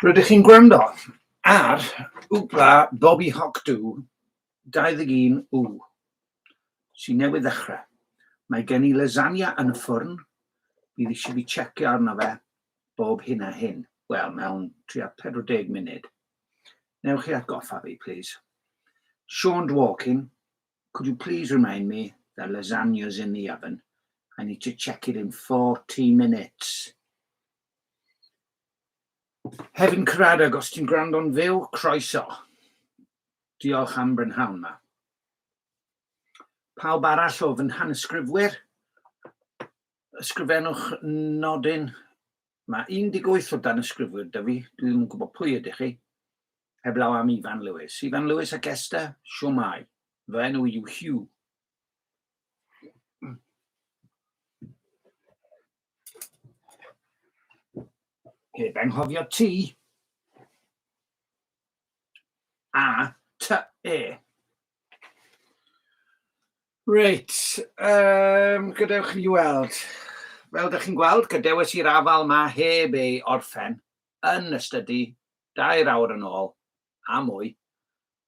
Rydych chi'n gwrando ar Wbla Bobi Hoc Dw 21 W sy'n newydd ddechrau. Mae gen i lasagna yn y ffwrn, bydd eisiau fi checio arno fe bob hyn a hyn. Wel, mewn tua 40 munud. Newch chi atgoffa fi, please? Sean Dworkin, could you please remind me that lasagna's in the oven? I need to check it in 40 minutes. Hefin Cradag, os ti'n gwrando'n fyw, croeso. Diolch am brynhawn ma. Pawb arall o fy nhanysgrifwyr, ysgrifennwch nodyn Mae 18 o danysgrifwyr 'da fi, dwi ddim yn gwybod pwy ydych chi, heblaw am Ifan Lewis. Ifan Lewis ac Esther, siwmai. Fy enw i yw Hugh. Heb anghofio ti. A, ty, e. Reit, um, gadewch chi weld. Fel ydych chi'n gweld, gadewis i'r afal ma heb ei orffen yn y stydi dair awr yn ôl a mwy,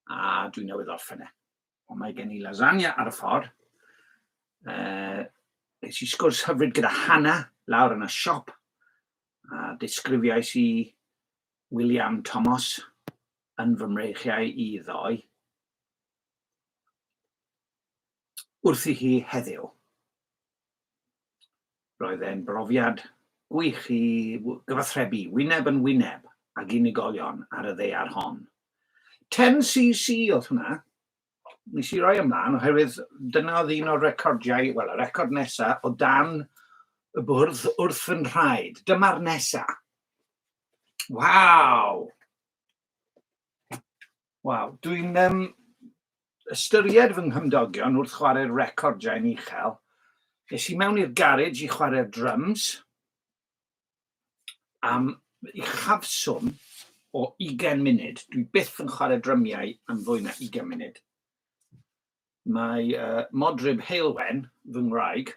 a dwi'n newydd orffen e. Ond mae gen i lasagna ar y ffordd. Uh, es i sgwrs hyfryd gyda Hannah lawr yn y siop, a disgrifiais i William Thomas yn fy mreichiau i ddoe wrthi hi heddiw. Roedd e'n brofiad gwych i gyfathrebu wyneb yn wyneb ag unigolion ar y ddaear hon. 10cc oedd hwnna. Nes i roi ymlaen oherwydd dyna oedd un o'r recordiau, wel y record nesa o dan y bwrdd wrth fy nhraed. Dyma'r nesa. Waw! Waw, dwi'n um, ystyried fy nghymdogion wrth chwarae'r record jain uchel. Nes i mewn i'r garej i chwarae'r drums am i chafswm o 20 munud. Dwi byth yn chwarae drymiau am fwy na 20 munud. Mae uh, modryb heilwen, fy ngwraig,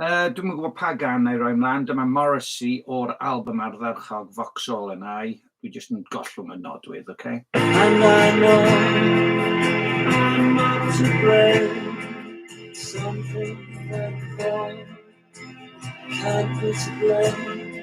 Yy, dwi'm yn gwybod pa gan na'i roi mlaen, dyma Morrissey o'r album ardderchog Vauxhall and I. Dwi jyst yn gollwng y nodwydd, oce? And I know I'm not to blame Something went wrong Can't be to blame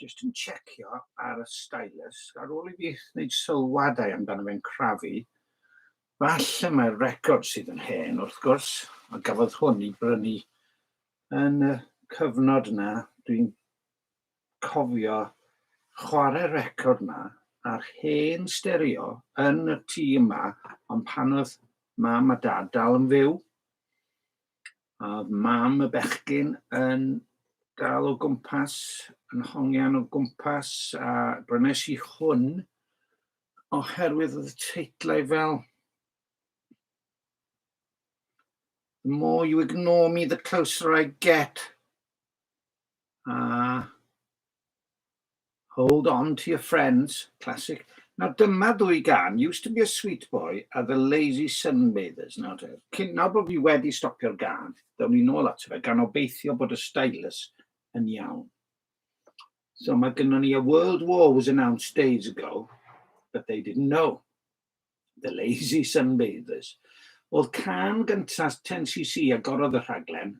jyst yn checio ar y stylus, ar ôl i fi wneud sylwadau amdano fe'n crafu, falle mae'r record sydd yn hen wrth gwrs, a gafodd hwn i brynu yn y cyfnod yna, dwi'n cofio chwarae record yma a'r hen stereo yn y tŷ yma, ond pan oedd mam a dad dal yn fyw, A oedd mam y bechgyn yn dal o gwmpas, yn hongian o gwmpas, a brynes i hwn oherwydd oedd y teitlau fel The more you ignore me, the closer I get. A Hold On To Your Friends, classic. Nawr dyma ddwy gan, Used To Be A Sweet Boy a The Lazy Sunbathers. Nawr te, cyn, nawr bod fi wedi stopio'r gan, ddawn ni nôl ato fe, gan obeithio bod y stylus yn iawn. So mae gynnon ni a World War was announced days ago, but they didn't know. The Lazy Sunbathers, oedd can gyntaf 10cc agorodd y rhaglen,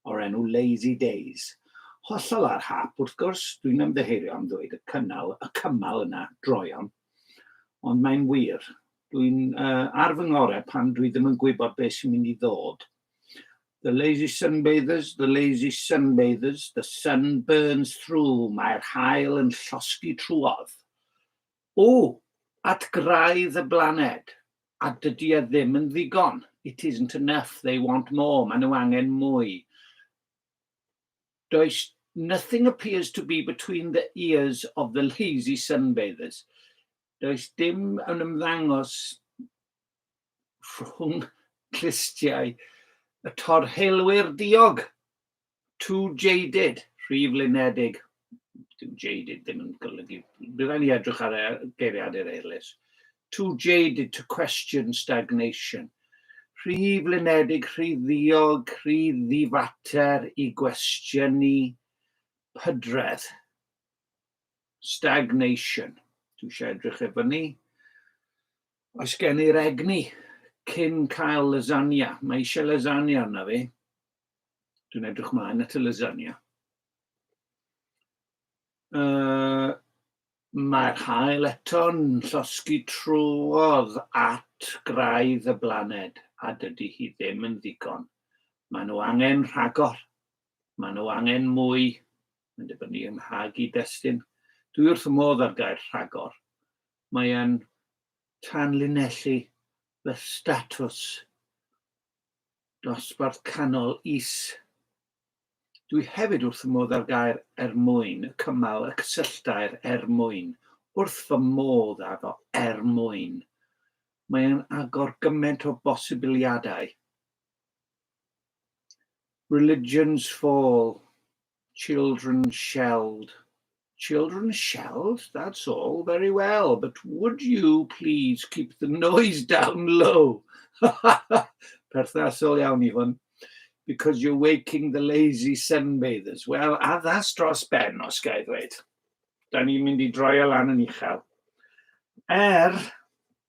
o'r enw Lazy Days. Hollol ar hap, wrth gwrs, dwi'n ymddiheurio am ddweud y cynnal, y cymal yna, droeon. Ond mae'n wir. Dwi'n uh, ar fy ngore pan dwi ddim yn gwybod beth sy'n mynd i ddod. The lazy sunbathers, the lazy sunbathers, the sun burns through, mae'r hael yn llosgi trwodd. O! At graidd y blaned! A dydy e ddim yn ddigon! It isn't enough, they want more, maen nhw angen mwy! Does Nothing appears to be between the ears of the lazy sunbathers, does dim yn ymddangos rhwng clustiau y torheilwyr diog! too jaded, rhy flinedig. Dyw jaded ddim yn golygu. Bydd rhaid ni edrych ar er, geiriadur eilus. Too jaded to question stagnation. Rhy flinedig, rhy ddiog, rhy ddifater i gwestiynu pydredd. Stagnation. Dwi eisiau edrych e fyny. Oes gen i'r egni cyn cael lasagna? Mae eisiau lasagna arna fi. Dwi'n edrych mlaen at y lasagna. Uh, Mae'r hael eto'n llosgi trwodd at graidd y blaned, a dydy hi ddim yn ddigon. Mae nhw angen rhagor. Mae nhw angen mwy. Mae'n dibynnu yng nghag i destyn. Dwi wrth y modd ar gair rhagor. Mae'n tanlinellu fy statws Dosbarth canol is. Dwi hefyd wrth fy modd â'r gair 'er mwyn', y cymal, y cysylltair 'er mwyn'. Wrth fy modd â fo, 'er mwyn'. Mae e'n agor gymaint o bosibiliadau. Religions fall. Children shelled. Children shelled? That's all very well, but would you please keep the noise down low? Perthnasol iawn i hwn. Because you're waking the lazy sunbathers. Wel, addas dros ben, os gael ddweud. Da ni'n mynd i droi o lan yn uchel. Er,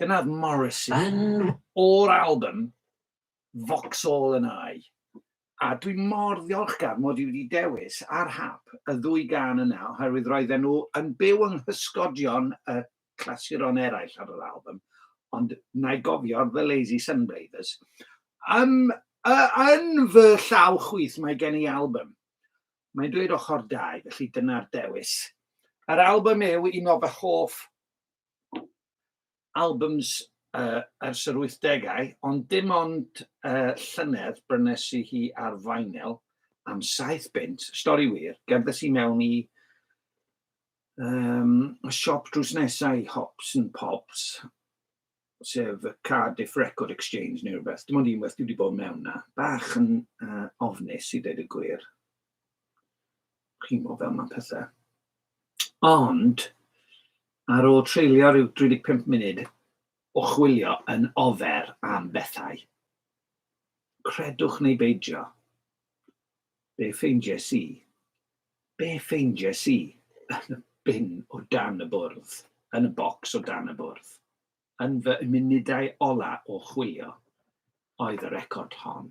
Dyna oedd Morrissey. Yn o'r album, Vauxhall and I. A dwi mor ddiolchgar mod i wedi dewis ar hap y ddwy gan yna oherwydd roedden nhw yn byw yng nghysgodion y clasuron eraill ar yr album, ond na i gofio The Lazy Sunbathers. Ym, y, yn fy llaw chwith mae gen i album. Mae'n dweud ochr dau, felly dyna'r dewis. Yr album yw un o fy hoff albums uh, ers yr 80au, ond dim ond uh, llynedd brynes i hi ar vinyl am saith bint, stori wir, gerddes i mewn i um, siop drws nesau i Hops and Pops, sef y Cardiff Record Exchange neu rhywbeth. Dim ond un waith dwi wedi bod mewn na. Bach yn uh, ofnus i dweud y gwir. Chi'n gwybod fel mae pethau. Ond, ar ôl treulio rhyw 35 munud o chwilio yn ofer am bethau, credwch neu beidio, be ffeindies i? Be ffeindies i yn y bin o dan y bwrdd, yn y bocs o dan y bwrdd, yn fy munudau ola o chwilio, oedd y record hon.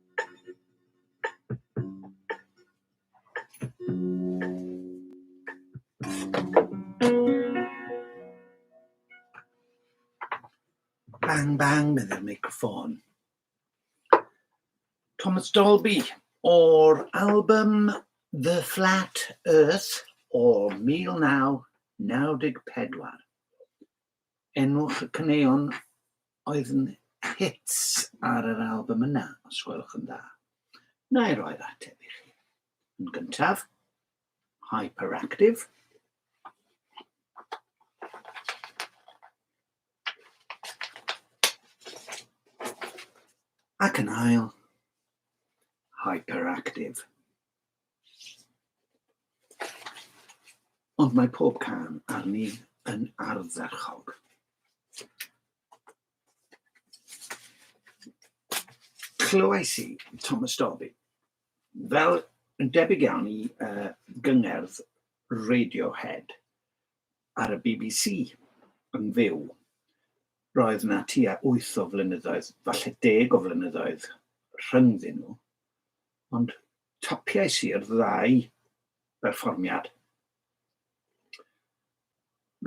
Bang bang, medde'r meicroffon. Thomas Dolby o'r album The Flat Earth o 1994. Enwch y caneuon oedd yn hits ar yr albym yna, os gwelwch yn dda. Na i roi'r ateb i chi. Yn gyntaf, Hyperactive. Ac yn ail, Hyperactive. Ond mae pob can arni yn ardderchog. Clywais i Thomas Dolby, fel yn debyg iawn i uh, gyngerdd Radiohead ar y BBC yn fyw. Roedd na tua 8 o flynyddoedd, falle deg o flynyddoedd rhyngddyn nhw, Ond tapiais i'r ddau berfformiad.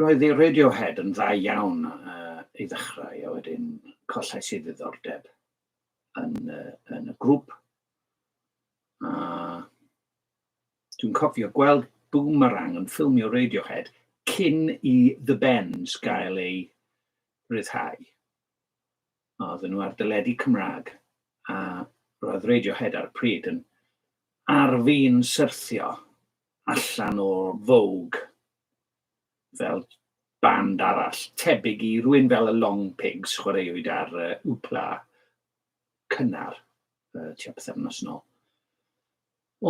Roedd i Radiohead yn dda iawn uh, i ddechrau, a wedyn collais i ddiddordeb yn, uh, yn y grŵp. A dwi'n cofio gweld Boomerang yn ffilmio Radiohead cyn i The Bends gael ei ryddhau. a oedden nhw ar dyledu Cymraeg, a roedd Radiohead ar y pryd yn ar fin syrthio allan o Vogue fel band arall, tebyg i rwy'n fel y Long Pigs chwaraewyd ar uh, Upla cynnar uh, tua pethefnos nôl.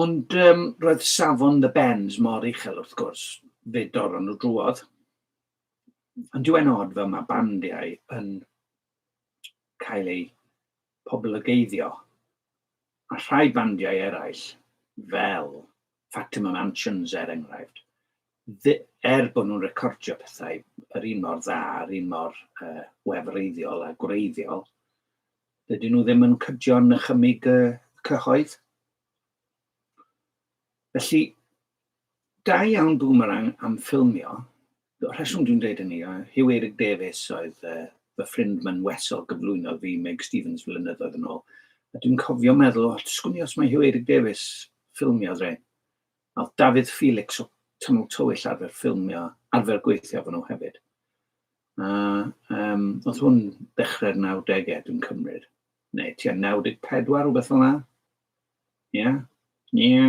Ond um, roedd safon The Bends mor uchel wrth gwrs, fe dorron nhw drwodd. Ond dwi'n odd fel mae bandiau yn cael eu poblogeiddio. Mae rhai bandiau eraill, fel Fatima Mansions er enghraifft, er bod nhw'n recordio pethau yr un mor dda, yr un mor uh, wefreiddiol a gwreiddiol, dydyn nhw ddim yn cydio'n nychymig y cyhoedd. Felly, Da iawn Boomerang am ffilmio. Y rheswm dwi'n dweud hynny yw Huw Eric Davies oedd uh, fy ffrind ma'n wesol gyflwynodd fi Meg Stevens flynyddoedd yn ôl. A dwi'n cofio meddwl, o, sgwn i os mae Huw Eric Davies ffilmio dre. A oedd Dafydd Felix o Tynnol Tywyll arfer ffilmio, arfer gweithio fan nhw hefyd. A um, oedd hwn dechrau'r 90au, dwi'n cymryd. Neu tua 94, rhywbeth fel yna. Ie, ie,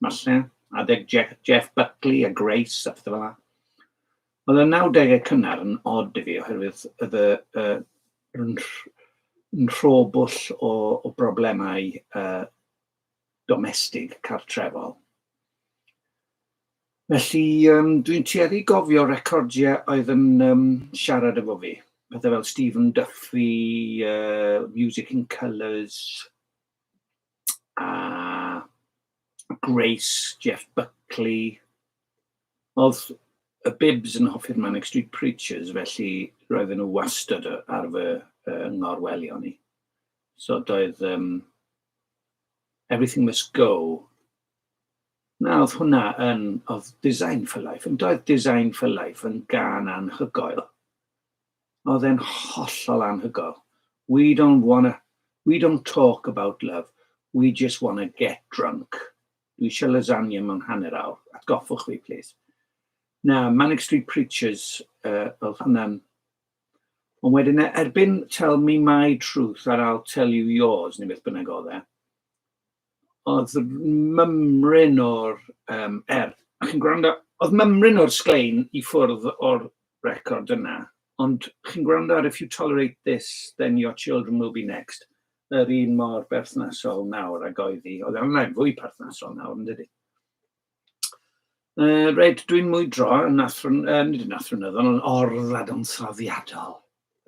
falle, adeg Jeff, Jeff Buckley a Grace a pethau fel yna. Oedd y 90au cynnar yn odd i fi oherwydd oedd y, y, yn, yn rhobwll o, o broblemau uh, domestig cartrefol. Felly, um, dwi'n tueddu gofio recordiau oedd yn um, siarad efo fi. Pethau fel Stephen Duffy, uh, Music in Colours, a Grace, Jeff Buckley. Oedd y Bibs yn hoffi'r Manic Street Preachers, felly roedden nhw wastad ar fy uh, ngorwelion i. So doedd um, Everything Must Go. Na, oedd hwnna yn, oedd Design for Life, yn doedd Design for Life yn gan anhygoel. Oedd e'n hollol anhygoel. We don't wanna, we don't talk about love, we just wanna get drunk. Dwi eisiau lasagne mewn hanner awr, atgoffwch fi plîs. Na, Manic Street Preachers uh, oedd hwnna'n... Ond wedyn e, erbyn Tell Me My Truth ar al Tell You Yours, neu beth bynnag oedd e, Oedd mymryn o'r yym er, a chi'n gwrando, oedd mymryn o'r sglein i ffwrdd o'r record yna, ond chi'n gwrando ar 'If You Tolerate This Then Your Children Will Be Next', yr un mor berthnasol nawr ag oedd hi. Oedd e ond yn fwy perthnasol nawr, yn dydy. Yy reit, dwi'n mwydro yn athro... nid yn athronyddol, yn or-ddadansoddiadol,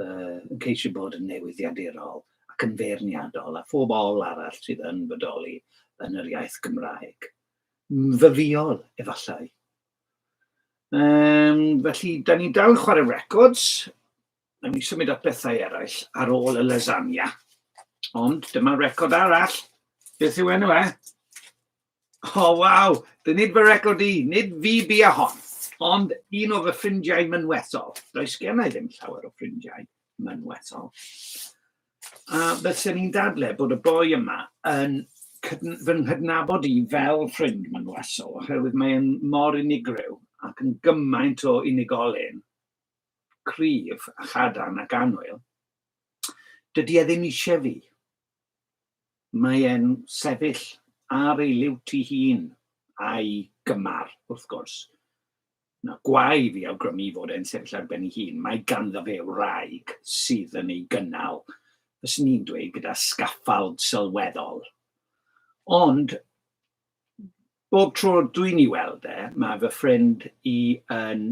yy yn ceisio bod yn newyddiadurol ac yn feirniadol â phob ol arall sydd yn bodoli yn yr iaith Gymraeg. Myfyriol, efallai. Yym, felly, 'da ni'n dal yn chwarae records. Nawn ni symud at bethau eraill ar ôl y lasagna. Ond dyma record arall. Beth yw enw e? O, oh, waw! Dy nid fy record i, nid fi bu a hon, ond un o fy ffrindiau mynwethol. Does gen i ddim llawer o ffrindiau mynwethol. A bysyn ni'n dadle bod y boi yma yn fy nghydnabod i fel ffrind mynwethol, oherwydd mae'n mor unigryw ac yn gymaint o unigolyn cryf a chadarn ac annwyl, dydy e ddim eisiau fi. Mae e'n sefyll ar ei liwt i hun, a'i gymar, wrth gwrs. Na gwae fi awgrymu fod e'n sefyll ar ben ei hun, mae ganddo fe wraig sydd yn ei gynnal, fyswn ni'n dweud gyda sgaffald sylweddol. Ond bob tro dwi'n ei weld e, mae fy ffrind i yn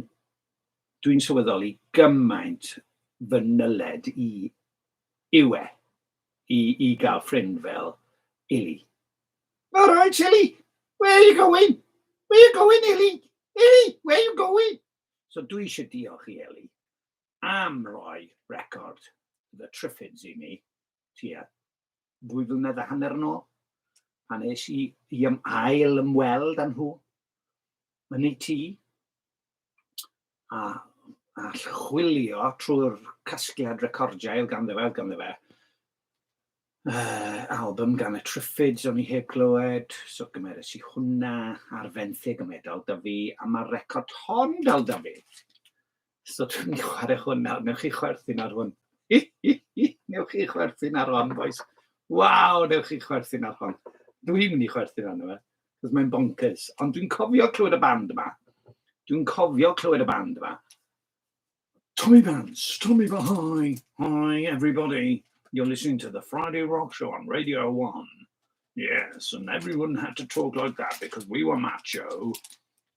dwi'n sylweddoli gymaint fy nyled i yw e i, i gael ffrind fel Ili. All right, Ili, where are you going? Where are you going, Ili? Ili, where are you going? So dwi eisiau diolch i Eli am roi record The Triffids i mi, tua dwy flynedd a hanner yn ôl, pan es i i ym ail ymweld â nhw yn eu tŷ, a, a chwilio trwy'r casgliad recordiau ganddo fe, ganddo fe, uh, album gan y Triffids o'n i heb glywed, so gymeres i hwnna ar fenthyg y medal da fi, a mae'r record hon dal da fi. So dwi'n mynd i chwarae hwn nawr. Wnewch chi chwerthin ar hwn? Wnewch chi chwerthin ar hon bois? Waw, wnewch chi chwerthin ar hon? Dwi'n mynd i chwerthin arno fe, achos mae'n bonkers. Ond dwi'n cofio clywed y band yma. Dwi'n cofio clywed y band yma. Tommy Vance, Tommy Vahai, hi everybody. You're listening to the Friday Rock Show on Radio 1. Yes, and everyone had to talk like that because we were macho.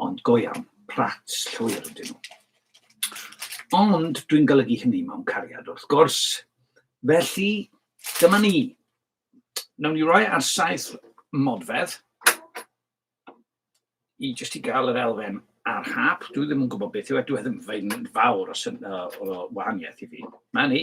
Ond go iawn, prats llwyr ydyn nhw. Ond dwi'n golygu hynny mewn cariad wrth gwrs. Felly, dyma ni. Nawn ni roi ar saith modfedd i jyst i gael yr elfen a'r hap. Dwi ddim yn gwybod beth yw e, dwi e ddim yn fawr o, syn, o, o wahaniaeth i fi. Mae ni.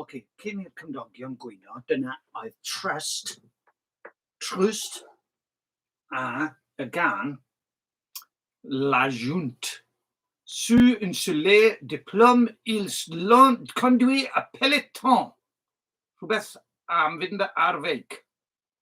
Ocê, cyn i'r cymdogion gwyno, dyna oedd Trust, Trust, a y gan La Junt. Su un soleil de plomb ils l'ont conduit à peloton. Rhywbeth am fynd ar feic.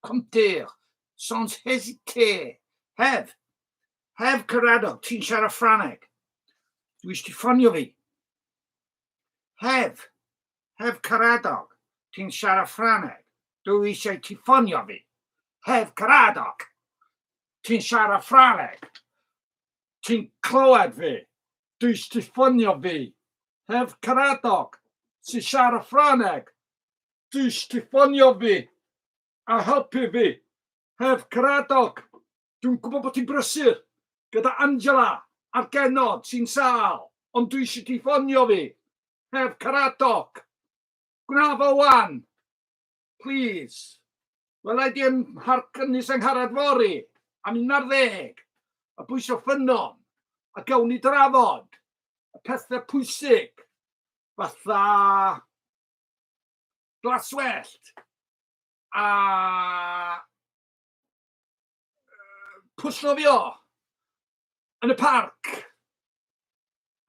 compteur, sans hésiter, Hef, Hef Caradog, ti'n siarad Ffraneg? Dwi eisiau ti ffonio fi. Hef, Hef Caradog, ti'n siarad Ffraneg? Dwi eisiau ti ffonio fi. Hef Caradog, ti'n siarad Ffraneg? Ti'n clywed fi? Dwi eisiau ti ffonio fi. Hef Caradog, ti'n siarad Ffraneg? jyst ti ffonio fi a helpu fi heb Cradock. Dwi'n gwybod bod ti'n brysur gyda Angela a'r genod sy'n sâl, ond dwi eisiau ti ffonio fi heb Cradock. Gwna fo wan! Plîs! Wela i di ym Mharc Ynys Angharad fory am un ar ddeg, a bwyso ffynnon, a gawn ni drafod y pethau pwysig, fatha glaswellt a pwllnofio yn y parc.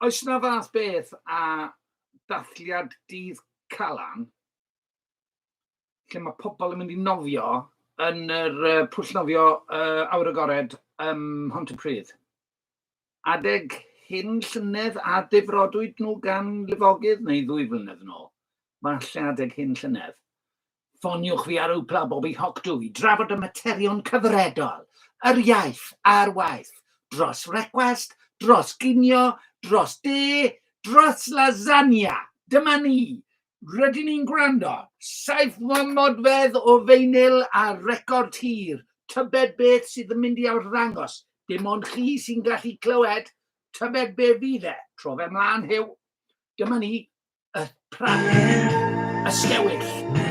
Oes na fath beth a dathliad dydd Calan lle mae pobl yn mynd i nofio yn yr pwllnofio uh, awyr agored ym Mhont-y-pryd? Adeg hyn llynedd a difrodwyd nhw gan lifogydd neu ddwy flynedd yn ôl? Falle adeg hyn llynedd. Ffoniwch fi ar Oopla Bobby Hocdw i drafod y materion cyfredol, yr iaith a'r waith, dros frecwast, dros ginio, dros de, dros lasagna! Dyma ni! Rydyn ni'n gwrando. Saif mam modfedd o feinyl a record hir. Tybed beth sydd yn mynd i arddangos? Dim ond chi sy'n gallu clywed. Tybed be fydd e? Tro fe mlaen, Huw. Dyma ni, y pran, y sgewyll.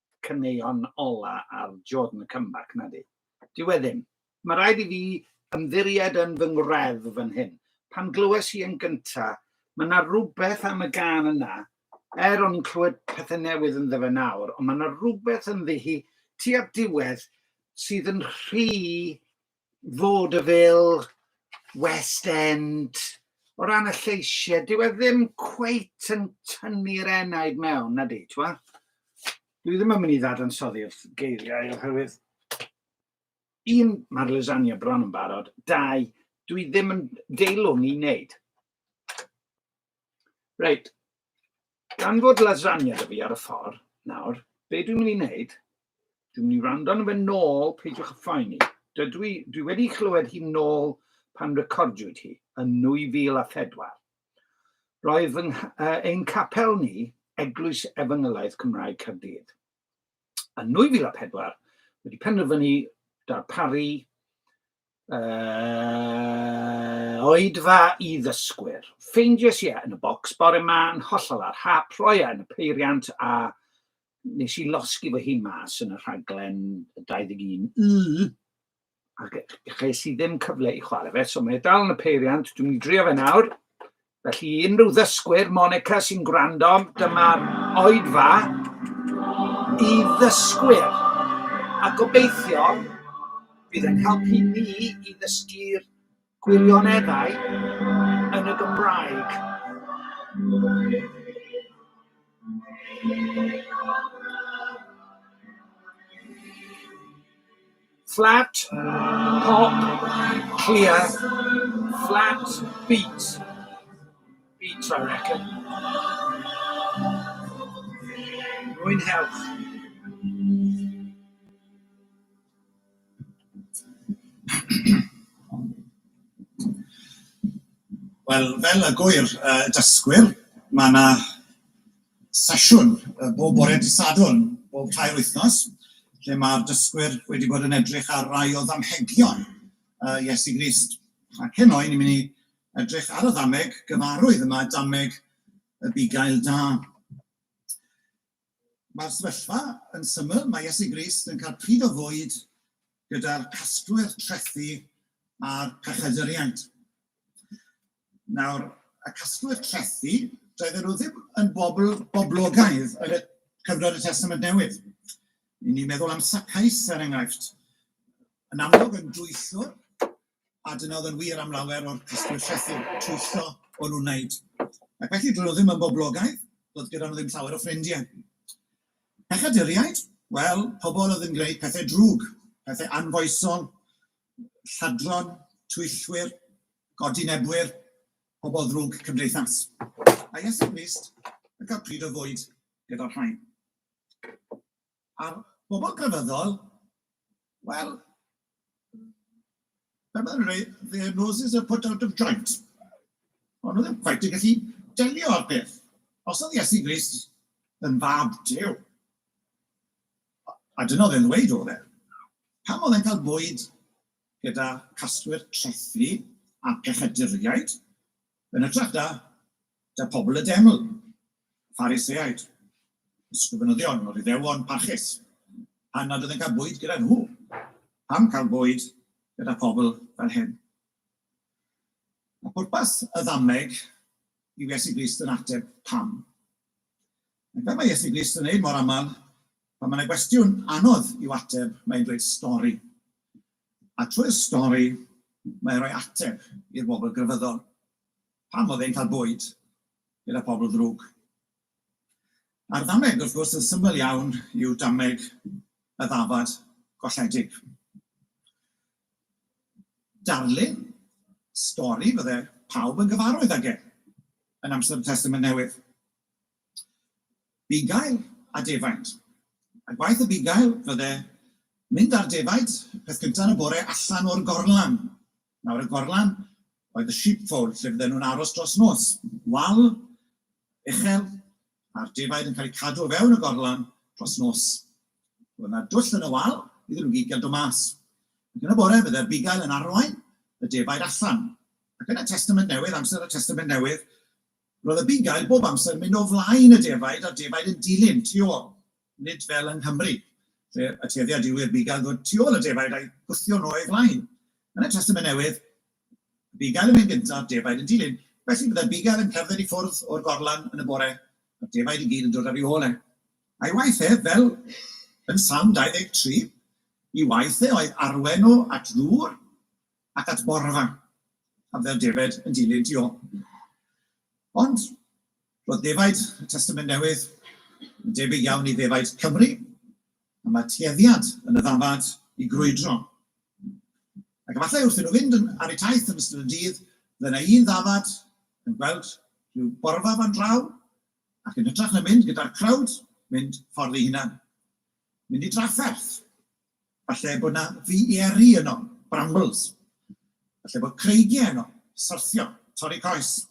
caneuon ola ar Jordan Comeback, nadi? Dyw e ddim. Mae rhaid i fi ymddiried yn fy ngwredd fan hyn. Pan glywes i yn gynta, mae yna rhywbeth am y gan yna, er o'n i'n clywed pethau newydd yn fe nawr, ond mae yna rhywbeth ynddi hi tua'r diwedd sydd yn rhy vaudeville, west end, o ran y lleisiau, dyw e ddim cweit yn tynnu'r enaid mewn, na di, ti'n Dwi ddim yn mynd i ddadansoddi'r geiriau oherwydd un, mae'r lasagna bron yn barod, dau, dwi ddim yn deilwng i wneud. Reit, gan fod lasagna da fi ar y ffordd nawr, be dwi'n mynd i wneud, dwi'n mynd i rando arno fe nôl, peidiwch y phoeni. Dydw i, dwi wedi chlywed hi nôl pan recordiwyd hi yn 2004. Roedd fy, uh, ein capel ni, Eglwys Efengylaeth Cymraeg Caerdydd. Yn 2004, wedi penderfynu darparu Uh, oedfa i ddysgwyr. Ffeindies i e yn y bocs bore ma yn hollol ar hap, rhoi e yn y peiriant a nes i losgi fy hun mas yn y rhaglen 21 y ac ches i ddim cyfle i chwarae fe, so mae e dal yn y peiriant, dwi'n mynd i drio fe nawr, Felly, i unrhyw ddysgwyr Monica sy'n gwrando, dyma'r oedfa i ddysgwyr. A gobeithio bydd yn helpu ni i ddysgu'r gwirioneddau yn y Gymraeg. Flat, pop, clear, flat, beat, beat I reckon. Mwynhewch. Wel, fel y gŵyr yy dysgwyr, mae 'na sesiwn bob bore dydd Sadwrn, bob tair wythnos, lle mae'r dysgwyr wedi bod yn edrych ar rai o ddamhegion uh, Iesu Grist. Ac heno, ni'n mynd i edrych ar y ddameg gyfarwydd yma, dameg y bugail da. Mae'r sefyllfa yn syml, mae Iesu Grist yn cael pryd o fwyd gyda'r casglwyr trethi a'r pechedyriaid. Nawr, y casglwyr trethi, doedden nhw ddim yn bobl boblogaidd yn y cyfnod y Testament Newydd. Yn ni'n meddwl am Sacais, er enghraifft, yn amlwg yn dwyllwr, a dyna oedd yn wir am lawer o'r casglwyr trethi, twyllo o'n nhw'n wneud. Ac felly, dyn nhw ddim yn boblogaidd, doedd gyda nhw ddim llawer o ffrindiau. Pechaduriaid, wel, pobl oedd yn gwneud pethau drwg, pethau anfoesol, lladron, twyllwyr, godinebwyr, pobl ddrwg cymdeithas, a Iesu Grist yn cael pryd o fwyd gyda'r rhain. A'r bobl grefyddol, wel, fel mae'n rhaid, their noses are put out of joint. Ond nhw ddim quite yn gallu delio â'r peth. Os oedd Iesu Grist yn fab Dyw, A dyna oedd e'n ddweud oedd e. Pam oedd e'n cael bwyd gyda casglwyr trethi a phechaduriaid yn hytrach da, da pobl y deml, Phariseaid, ysgrifenyddion o'r Iddewon parchus, pan nad oedd e'n cael bwyd gyda nhw? Pam cael bwyd gyda pobl fel hyn? A pwrpas y ddameg i Iesu Grist yn ateb pam. Ac fel mae Iesu Grist yn wneud mor aml, pan mae yna gwestiwn anodd i'w ateb, mae'n dweud stori. A trwy'r stori, mae'n rhoi ateb i'r bobl grefyddol. Pam oedd e'n cael bwyd gyda pobl ddrwg? A'r ddameg, wrth gwrs, yn syml iawn, yw dameg y ddafad golledig. Darlun stori fydde pawb yn gyfarwydd ag e yn amser y Testament Newydd. Bugail a defaid. A gwaith y bugail fydde mynd â'r defaid peth cynta' yn y bore allan o'r gorlan. Nawr y gorlan oedd y sheepfold lle fydden nhw'n aros dros nos. Wal uchel a'r defaid yn cael eu cadw o fewn y gorlan dros nos. Roedd 'na dwll yn y wal iddyn nhw gyd gael dod mas. Ac yn y bore fydde'r bugail yn arwain y defaid allan. Ac yn y Testament Newydd, amser y Testament Newydd, Roedd y bugail bob amser yn mynd o flaen y defaid a'r defaid yn dilyn tu ôl, nid fel yng Nghymru, lle y tueddiad yw i'r bugail ddod tu ôl y defaid a'i gwthio nhw o'i flaen. Yn y Testament Newydd, y bugail yn mynd gyntaf, defaid yn dilyn. Felly, byddai'r bugail yn cerdded i ffwrdd o'r gorlan yn y bore, a'r defaid i gyd yn dod ar ei ôl e. A'i waith ef, fel yn Salm 23, i waith e oedd arwain nhw at ddŵr, ac at borfa, a fel defaid yn dilyn Dio. Ond roedd defaid y Testament Newydd yn debyg iawn i ddefaid Cymru, a mae tueddiad yn y ddafad i grwydro. Ac efallai wrth i nhw fynd ar eu taith yn ystod y dydd, fe na un ddafad yn gweld rhyw borfa fan draw, ac yn hytrach na mynd gyda'r crowd, mynd ffordd ei hunan. Mynd i drafferth. Falle bod 'na fiery yno, brambles. Falle bod creigie yno, syrthio, torri coes.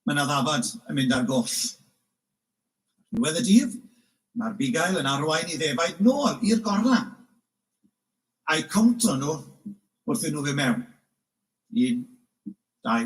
Mae 'na ddafad yn mynd ar goll. Ar ddiwedd y dydd, mae'r bugail yn arwain i ddefaid nôl i'r gorlan, a'u cowntio nhw wrth iddyn nhw fynd mewn. Un, dau,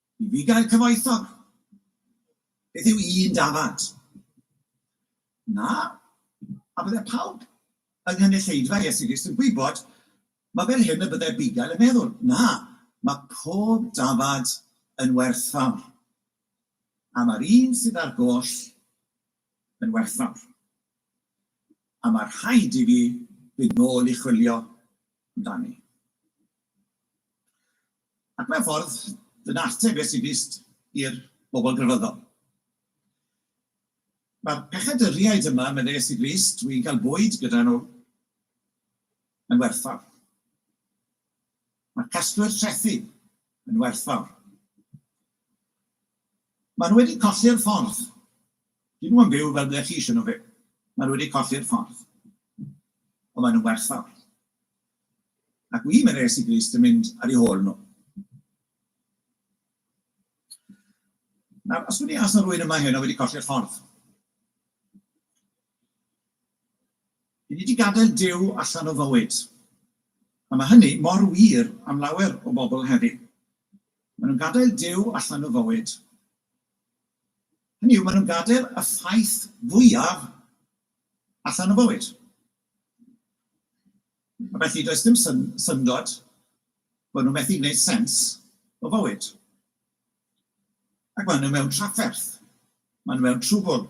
I fi gael cyfoethog, beth yw un dafad? Na, a bydde pawb yng nghynulleidfa Iesu Grist yn gwybod, mae fel hyn y bydde Abigail yn meddwl. Na, mae pob dafad yn werthfawr, a mae'r un sydd ar goll yn werthfawr. A mae rhaid i fi fynd nôl i chwilio amdani. Ac mewn ffordd, dyna ateb Iesu Grist i'r bobl grefyddol. Mae'r pechaduriaid yma, meddai Iesu Grist, dwi'n cael bwyd gyda nhw, yn werthfawr. Mae'r casglwyr trethi yn werthfawr. Maen nhw wedi colli'r ffordd. Dyn nhw'n byw fel ble chi eisiau nhw fyw. Maen nhw wedi colli'r ffordd. Ond maen nhw'n werthfawr. Ac wi mae'n res i glust yn mynd ar eu hôl nhw. Nawr, os dwi'n deall os na rwy'n yma heno wedi colli'r ffordd. Dwi wedi gadael Duw allan o fywyd. A mae hynny mor wir am lawer o bobl heddi. Maen nhw'n gadael Duw allan o fywyd. Hynny yw, maen nhw'n gadael y ffaith fwyaf allan o fywyd. A felly does dim syn syndod bod nhw methu gwneud sens o fywyd. Ac maen nhw mewn trafferth. Maen nhw mewn trwbl.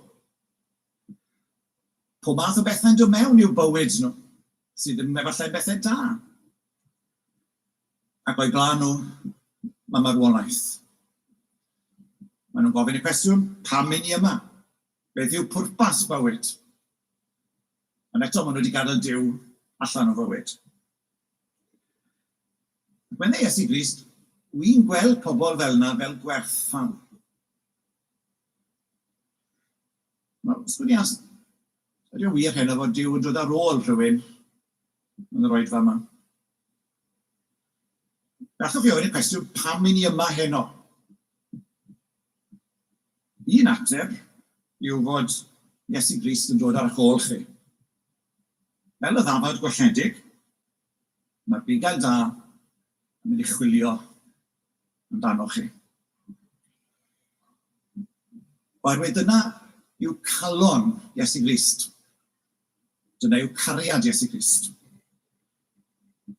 Pob math o bethau'n dod mewn i'w bywyd nhw, sydd ddim efallai'n bethau da. Ac o'i blaen nhw, mae marwolaeth. Maen nhw'n gofyn y cwestiwn, pam i ni yma? Beth yw pwrpas bywyd? Ond eto maen nhw wedi gadael Duw allan o fywyd. Ac meddai Iesu Grist, wy'n gweld pobl fel yna fel gwerthfawr. Nawr, os gwni as, ydy'n wir heno fod Duw yn dod ar ôl rhywun yn yr oedfa yma? Nathoch chi ofyn y cwestiwn pam i ni yma heno? Un ateb yw fod Iesu Grist yn dod ar eich ôl chi. Fel y ddafad gwelledig, mae'r bugail da yn mynd i chwilio amdanoch chi. Oherwydd dyna yw calon Iesu Grist. Dyna yw cariad Iesu Grist.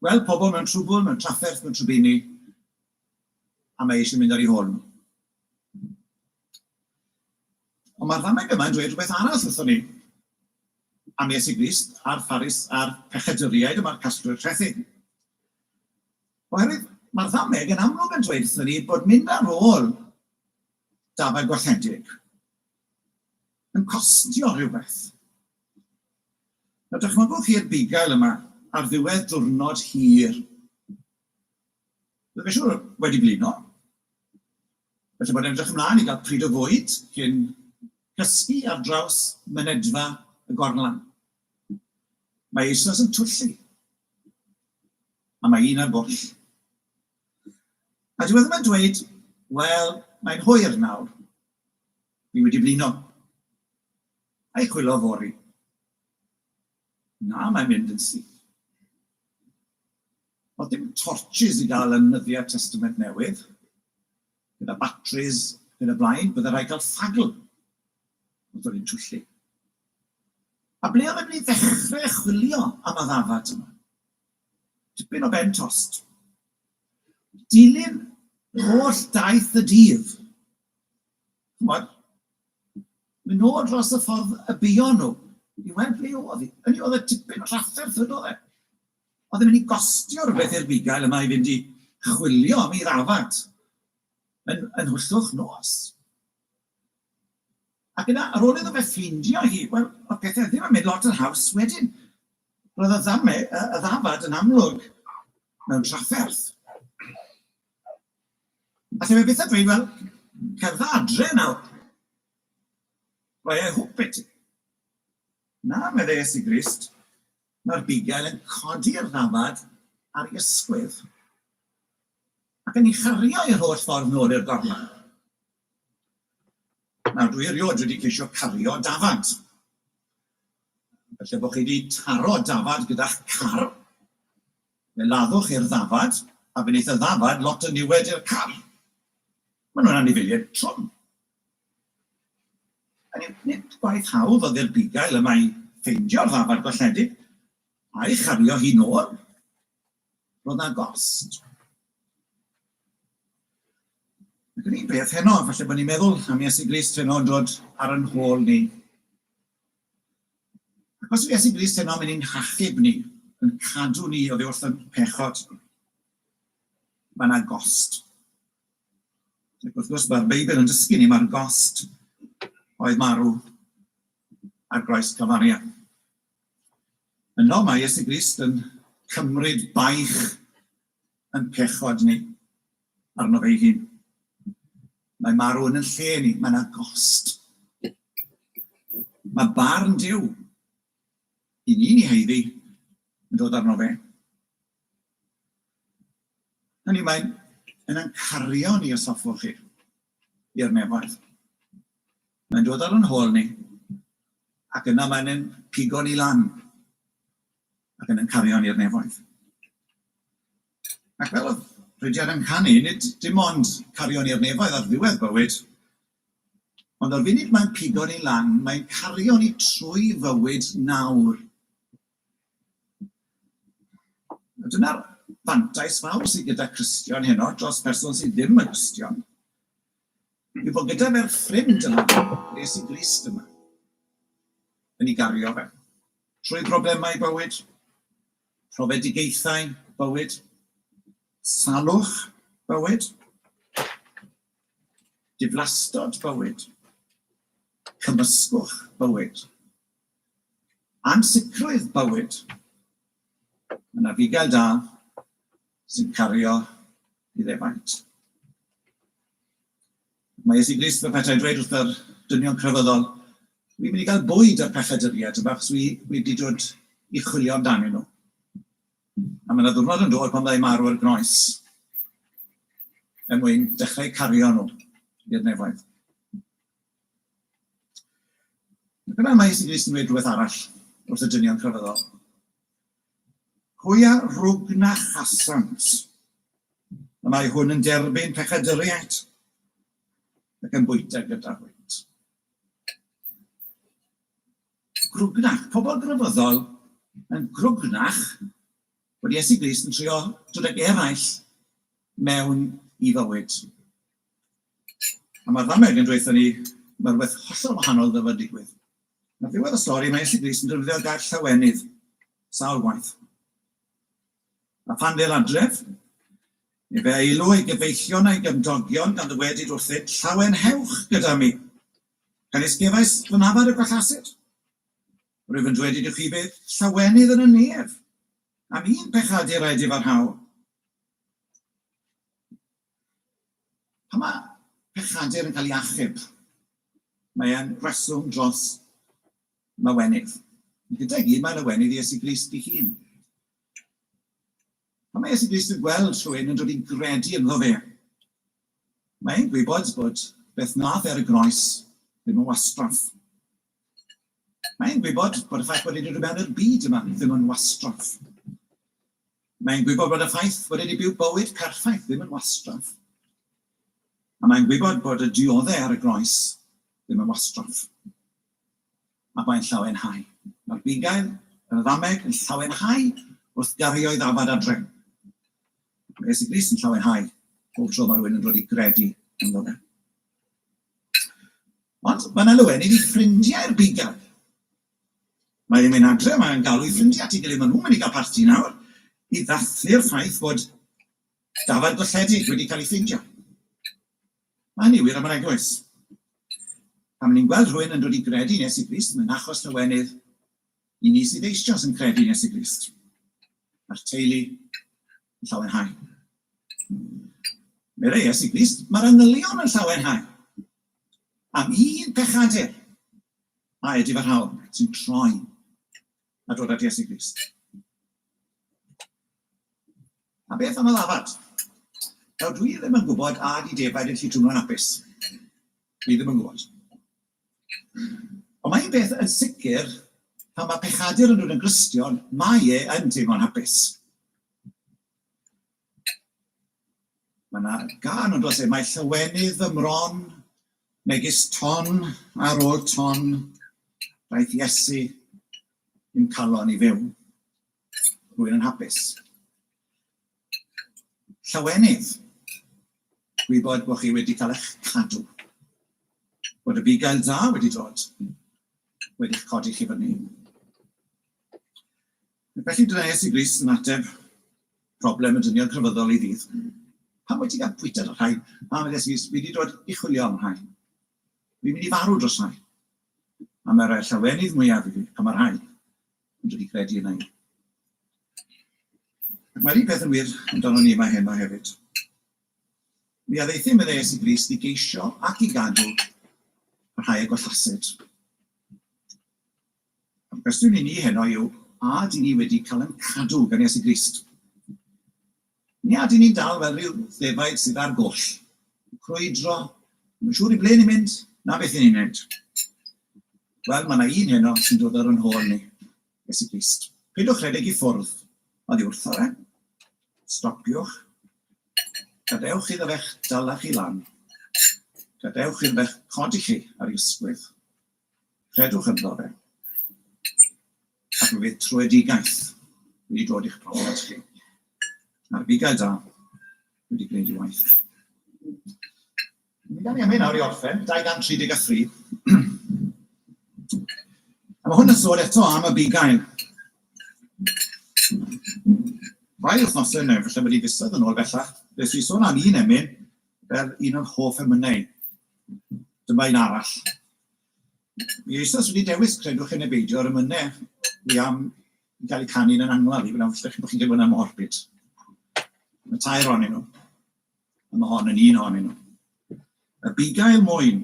Gweld pobl mewn trwbl, mewn trafferth, mewn trwbini, a mae eisiau mynd ar ei hôl nhw. Ond mae'r ddameg yma yn dweud rhywbeth arall wrthon ni am Iesu Grist a'r Pharis a'r pecheduriaid yma'r casglwyr trethi. Oherwydd mae'r ddameg yn amlwg yn dweud wrthon ni bod mynd ar ôl dafau gwalledig yn costio rhywbeth. Nawr dychmygwch chi'r bugail yma ar ddiwedd diwrnod hir. Byddwch chi'n siŵr wedi blino. Felly bod edrych ymlaen i gael pryd o fwyd cyn cysgu ar draws mynedfa y gorlan. Mae eisoes yn twyllu. A mae un ar bwll. A diwedd yma'n dweud, wel, mae'n hwyr nawr. Ni wedi blino. Ai chwilo fori? Na, mae'n mynd yn syth. Oedd dim torches i gael yn nyddiau Testament Newydd. Gyda batteries, gyda blaen, bydde rhaid cael ffagl. Oedd o'n twyllu. A ble oedd e'n mynd i ddechrau chwilio am y ddafad yma? Tipyn o ben tost. Dilyn holl daith y dydd. Ch'mod? Myn' nôl dros y ffordd y buon nhw i weld ble o'dd hi. Hynny yw o'dd e tipyn o drafferth fyd o'dd e. O'dd e'n mynd i gostio rhywbeth i'r bugail yma i fynd i chwilio am ei ddafad yn yn Nhwyllwch Nos. Ac yna, ar ôl iddo fe ffeindio hi, wel, oedd pethau ddim yn mynd lot yn haws wedyn. Roedd y ddame, y, y ddafad yn amlwg mewn trafferth. A lle mae beth a dweud, wel, cerdda adre nawr. Mae ei hwp beti. Na, meddai Iesu Grist, mae'r bugail yn codi'r ddafad ar ei ysgwydd ac yn ei chario i'r holl ffordd nôl i'r gorlan. Nawr, dwi erioed wedi ceisio cario dafad. Felly, bod chi wedi taro dafad gyda'ch car, fe laddwch chi'r ddafad, a fe wneith y ddafad lot o niwed i'r car. Maen nhw'n anifeiliaid trwm. Hynny yw, nid gwaith hawdd oedd i'r bugail yma i ffeindio'r ddafad golledig, a'i chario hi'n ôl. Roedd na gost. Ac yn un peth heno, falle bod ni'n meddwl am Iesu Grist heno yn dod ar yn hôl ni. Ac os yw Iesu Grist heno yn mynd i'n hachub ni, yn cadw ni o ddiwrth yn pechod, mae yna gost. Ac wrth gwrs, mae'r Beibl yn dysgu ni, mae'r gost oedd marw ar groes Calfaria. Yno mae Iesu Grist yn cymryd baich yn pechod ni, arno fe'i hun. Mae marw yn yn lle ni, mae yna gost. Mae barn Dyw i ni ni heiddi yn dod arno fe. Hynny mae'n yna'n cario ni os hoffwch chi. i'r nefoedd. Mae'n dod ar yn hôl ni, ac yna mae'n yn pigo ni lan, ac yn yn cario ni'r nefoedd. Ac fel oedd Rhydian yn canu, nid dim ond cario ni'r nefoedd ar ddiwedd bywyd, ond o'r funud mae'n pigo ni lan, mae'n cario ni trwy fywyd nawr, A dyna'r fantais fawr sydd gyda Cristion heno dros person sydd ddim yn Gristion, yw bod gyda fe'r ffrind yma, Iesu Grist yma, yn ei gario fe, trwy broblemau bywyd, profedigaethau bywyd, salwch bywyd, diflastod bywyd, cymysgwch bywyd, Ansicrwydd bywyd. Mae yna fugail da sy'n cario i ddefaid. Mae Iesu Grist fel petai dweud wrtho'r dynion crefyddol, wi'n mynd i gael bwyd ar pechaduriaid yma achos wi wedi dod i chwilio amdanyn nhw. A mae yna ddwrnod yn dod pan fyddai marw ar groes er mwyn dechrau cario nhw i'r nefoedd. Dyna am Aes Rees yn dweud rhywbeth arall wrth y dynion crefyddol. Hwy a rwg na chasant, y mae hwn yn derbyn pechadyriaid ac yn bwyta gyda hwynt. Grwgnach, pobl grefyddol yn grwgnach bod Iesu Grist yn trio dod ag eraill mewn i fywyd. A mae'r ddameg yn dweutho ni mae rhywbeth hollol wahanol ddyfa digwydd. Ar ddiwedd y stori, mae Elli Brys yn defnyddio'r gair llawenydd sawl gwaith. A phan ddel adref, ni fe eilw ei gyfeillion a'i gymdogion gan ddywedyd wrthynt, Llawenhewch gyda mi! Canis gefais fy nafad y gwallasid. Rwyf yn dwedyd i'w chi bydd llawenydd yn y nef, am un pechaduraid i farhaol. Pan mae pechadur yn cael ei achub, mae e'n reswm dros lawenydd. Ond gyda'i gyd mae lawenydd Iesu Grist ei hun. Pan mae Iesu Grist yn gweld rhywun yn dod i'n gredu ynddo fe, mae e'n gwybod bod beth wnaeth e ar y groes ddim yn wastraff. Mae e'n gwybod bod y ffaith bod e 'di dod mewn i'r byd yma ddim yn wastraff. Mae e'n gwybod bod y ffaith bod e 'di byw bywyd perffaith ddim yn wastraff. A mae'n gwybod bod y diodde ar y groes ddim yn wastraff. A mae'n llawenhau. Mae'r bugail yn y ddameg yn llawenhau wrth gario i ddafad adre. Mae Iesu Grist yn llawenhau pob tro mae rhywun yn dod i gredu ynddo fe. Ond mae'n alwenu i ffrindiau'r bigel. Mae ddim yn adre, mae'n galw i ffrindiau at ei gilydd, maen nhw'n mynd i gael parti nawr i ddathlu'r ffaith bod dafarn golledig wedi cael ei ffeindio. Mae hynny wir am yr eglwys. Pan ni'n gweld rhywun yn dod i gredu yn Iesu Grist, mae'n achos lawenydd i ni sydd eisioes yn credu yn Iesu Grist. Mae'r teulu yn llawenhau. Meddai Iesu Grist, mae'r angylion yn llawenhau. Am un pechadur, a edif yr hawl sy'n troi a dod at Iesu Grist. A beth am y lafad? Nawr, dwi ddim yn gwybod a di defaid yn lli twmlo'n apus. Dwi ddim yn gwybod. Ond mae un peth yn sicr, pan mae pechadur yn dod yn Gristion, mae e yn teimlo'n hapus. Mae yna gan ond os e, mae llywenydd fy mron, megis ton ar ôl ton, daeth Iesu i'm calon i fyw. Rwy'n yn hapus. Llawenydd, gwybod bod chi wedi cael eich cadw, bod y bugail dda wedi dod, wedi'ch codi chi fyny. Felly dres i Gris yn ateb problem y dynion crefyddol i ddydd. Pam wyt ti gael pwyta dros rhai? Pam ydych chi wedi dod i chwilio am rhai? Fi'n mynd i farw dros rhai. A mae'r llawenydd mwyaf i fi, a mae'r rhai. Ond dwi wedi credu yna i. Ac mae'r un peth yn wir amdano ni yma heno hefyd. Mi addeuthum yn ees i Grist i geisio ac i gadw y rhai a gollasid. A'r cwestiwn i ni heno yw, a dyn ni wedi cael yn cadw gan Iesu Grist? Neu ydyn ni'n dal fel rhyw ddefaid sydd ar goll, yn crwydro, ddim yn siŵr i ble ni'n mynd na beth i ni'n wneud? Wel, mae 'na un heno sy'n dod ar ein hôl ni, Iesu Grist. Peidiwch rhedeg i ffwrdd oddi wrtho fe. Stopiwch. Gadewch iddo fe'ch dala chi lan. Gadewch iddo fe'ch codi chi ar ei ysgwydd. Credwch ynddo fe, ac fe fydd troedigaeth wedi dod i'ch profiad chi, a'r bugail da wedi gwneud ei waith. Mi gawn ni am hyn nawr i orffen, 233. A mae hwn yn sôn eto am y bugail. Rai wythnosau yn efallai bod i fisoedd yn ôl bellach, fe swi sôn am un emyn Fel un o'n hoff emynau. Dyma un arall. Mi eisoes wedi dewis, credwch chi neu beidio, yr emynau fi am i gael eu canu yn angladd i, wna'n ddechrau bod chi'n teimlo'n amorbid. Mae tair o'n nhw, a mae hon yn un o'n nhw. Y bugail mwyn,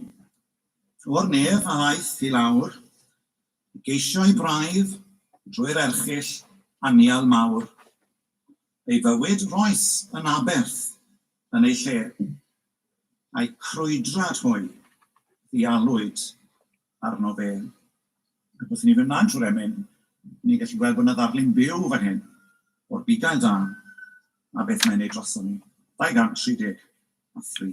o'r nef a aeth i lawr, geisio i braidd drwy'r erchill anial mawr. Ei fywyd roes yn aberth yn ei lle, a'i crwydrad hwy ddialwyd arno fe. Ac wrth i ni fynd mlaen trwy'r emyn, ni'n gallu gweld bod yna ddarlun byw fan hyn o'r bugail dân a beth mae'n ei droson ni. 233.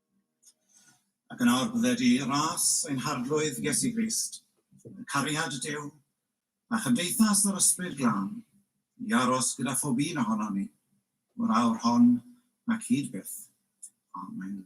Ac yn awr bydde dy ras ein harglwydd Iesu Grist, y cariad y Duw, a chymdeithas yr Ysbryd Glân, i aros gyda phob un ohonon ni, o'r awr hon ac hyd byth. Amen.